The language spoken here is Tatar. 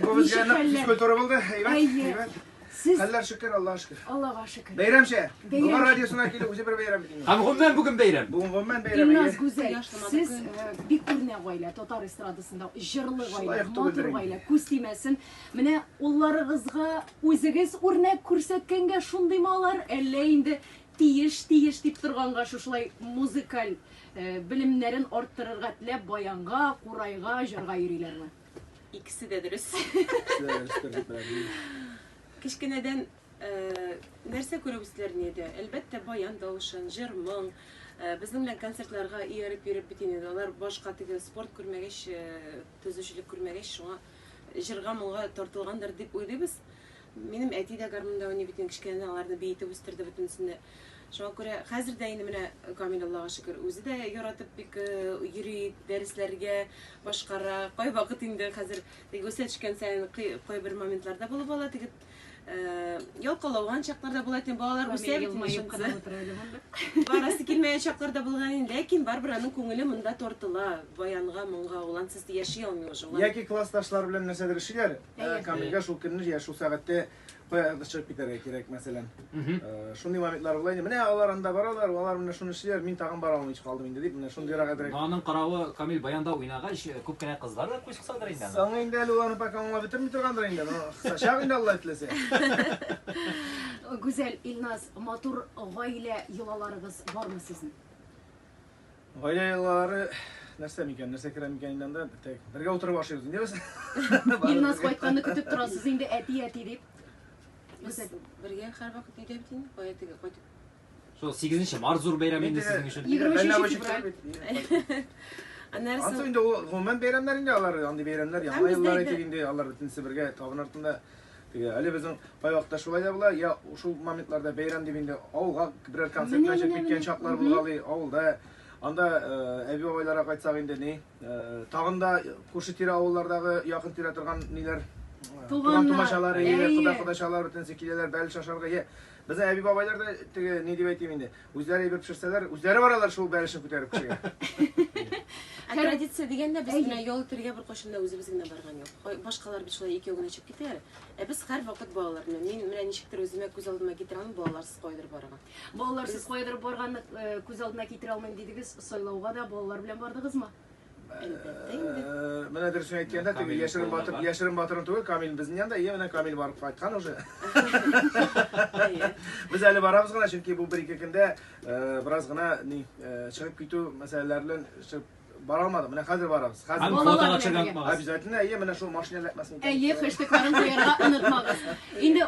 Бу безгә нык физкультура булды. Әйбәт, әйбәт. Сез... Хәлләр шөкер, Аллаһ шөкер. Аллаһ шөкер. Бәйрәмчә. Бүгін радиосына килу үзе бер бәйрәм бит. Һәм гомумән бүген бәйрәм. Бүген гомумән бәйрәм. Илназ Гүзәл, сез бик күренә гаилә, татар эстрадасында җырлы гаилә, матур гаилә, күз тимәсен. Менә улларыгызга үзегез үрнәк күрсәткәнгә шундыймы алар, әллә инде тиеш, тиеш дип торганга шушылай музыкаль белемнәрен арттырырга теләп баянга, курайга, җырга йөриләрме? Икесе дә дөрес. Кечкенәдән э, нәрсә күреп үстеләр инде? Әлбәттә, баян тавышын, җыр, моң. Э, безнең белән концертларга ияреп йөреп бит инде. Алар башка теге спорт күрмәгәч, э, төзүчелек күрмәгәч, шуңа җырга моңга тартылгандыр дип уйлыйбыз. Минем әти дә гармунда уйный бит, кечкенәдән аларны биетеп үстерде бөтенесен дә. Шуңа күрә хәзер дә инде менә Камил Аллага шөкер, үзе дә яратып бик йөри, дәресләргә башкара. Кайвакыт инде хәзер теге үсә төшкән саен кайбер моментларда булып ала, теге ялкалауган чакларда була икән, балалар үсә бит инде шунысы. Барасы килмәгән чакларда булган инде, ләкин барыбер аның күңеле монда тартыла, баянга, моңга, ул ансыз яши алмый уже. Яки классташлар белән нәрсәдер эшлиләр, Э, камилгә шул көнне я шул сәгатьтә кая чыгып китәргә кирәк мәсәлән э, шундый моментлар була инде менә алар анда баралар алар менә шуны эшлиләр мин тагын бара алмыйча калдым инде дип менә шундыйрак әзрәк аның каравы камил баянда уйнагач э, күп кенә кызлар да күз кысадыр инде соң инде әле ул аны пока аңлап бетерми торгандыр инде кысачак инде алла теләсә гүзәл илназ матур гаилә йолаларыгыз бармы сезнең Гаилә еллары нәрсә микән, нәрсә керә микән инде анда? Тек бергә утырып ашыйбыз инде без. Илназ кайтканны көтеп торасыз инде әти, әти дип. Без бергә һәрвакыт өйдә бит инде, кая теге кайтып. Шул 8 нче март зур бәйрәм инде сезнең өчен. 23 февраль. Аннары соң. Ансу инде ул гомумән бәйрәмнәр инде алар, андый бәйрәмнәр, яңа еллар әйтик инде, алар бөтенесе бергә табын артында. Теге әле безнең кайвакытта шулай да була, я шул моментларда бәйрәм дип инде авылга берәр концертка чыгып киткән чаклар булгалый, авылда Анда э, әби бабайларга кайтсак инде ни, э, тагын да күрше-тирә авыллардагы якын тирә торган ниләр э, туган тумачалар, әйе, кода-кодачалар бөтенесе киләләр, бәл шашарга. Безнең әби бабайлар да теге ни дип әйтим инде, Үзләре әйбер пешерсәләр, үзләре баралар шул бәрәшне күтәреп кешегә. Ә традиция дигәндә без менә ял итәргә беркайчан да үзебез генә барган юк. Кай- Башкалар бит шулай икәү генә чыгып китәләр. Ә без һәрвакыт балалар белән. Мин менә ничектер үземә күз алдыма китерә алмыйм балаларсыз кайдыр барырга. Балаларсыз кайдырып барганны э, күз алдына китерә алмыйм дидегез, сайлауга да балалар белән бардыгызмы? Әлбәттә инде. Э, менә дөресен әйткәндә, теге яшерен батыр, яшерен батырын түгел, Камил безнең янда, иә, менә Камил барып кайткан уже. Без әле барабыз гына, чөнки бу бер-ике көндә э, бераз гына ни э, чыгып китү мәсьәләләре белән чыгып бара алмадым. Менә хәзер барабыз. Хәзер фотога чыгып Обязательно, әйе, менә шул машина ләкмәсен. Әйе, хэштегларын куярга онытмагыз. Инде